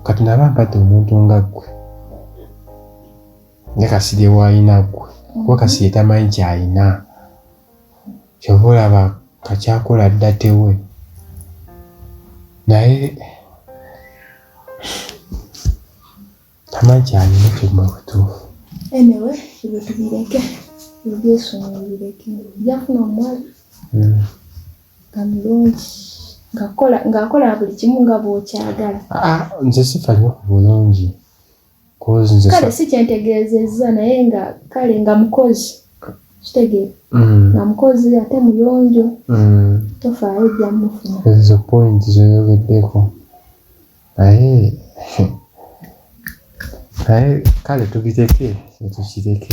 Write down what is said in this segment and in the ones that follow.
kati naba mpate omuntu nga ggwe nga kasirye waalina ggwe kuba kasirye tamanyi kyalina kyova olaba kakyakola dda tewe naye tamanyi kyalina kyoguma butuufu enewe ebyo tubireke ebyesonga bireke jafuna omwali hmm. nga mulungi ng'akola buli kimu nga bw'okyagala ah, ah, nze sifa nyo ku bulungi kale si kyentegeezezza naye nga kale nga mukozi kitegeera mm. nga mukozi ate muyonjo mm. tofaayo ejja mufuna ezo point zoyogeddeko naye naye kale tubiteke etukireke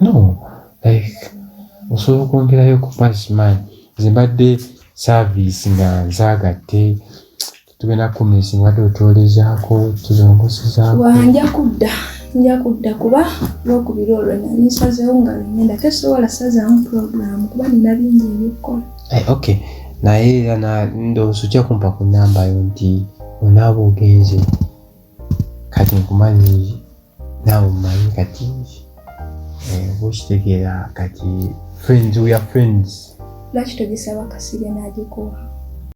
no like osobola okwongerayo ku punch man nze mbadde service nga nzagatte tugenda kumisi mbadde otwolezaako tuzongosezaako wanja kudda nja kudda kuba lwokubiri olwo nali nsazeewo nga lwengenda tesobola sazaamu puroguramu kuba nina bingi ebyokukola eh, ok naye era ndowooza ojja kumpa ku namba yo nti onaaba ogenze kati nkumanyiiyo naawe omanyi kati eh, oba okitegeera kati friends we are friends lwaki togisaba kasirye n'agikuwa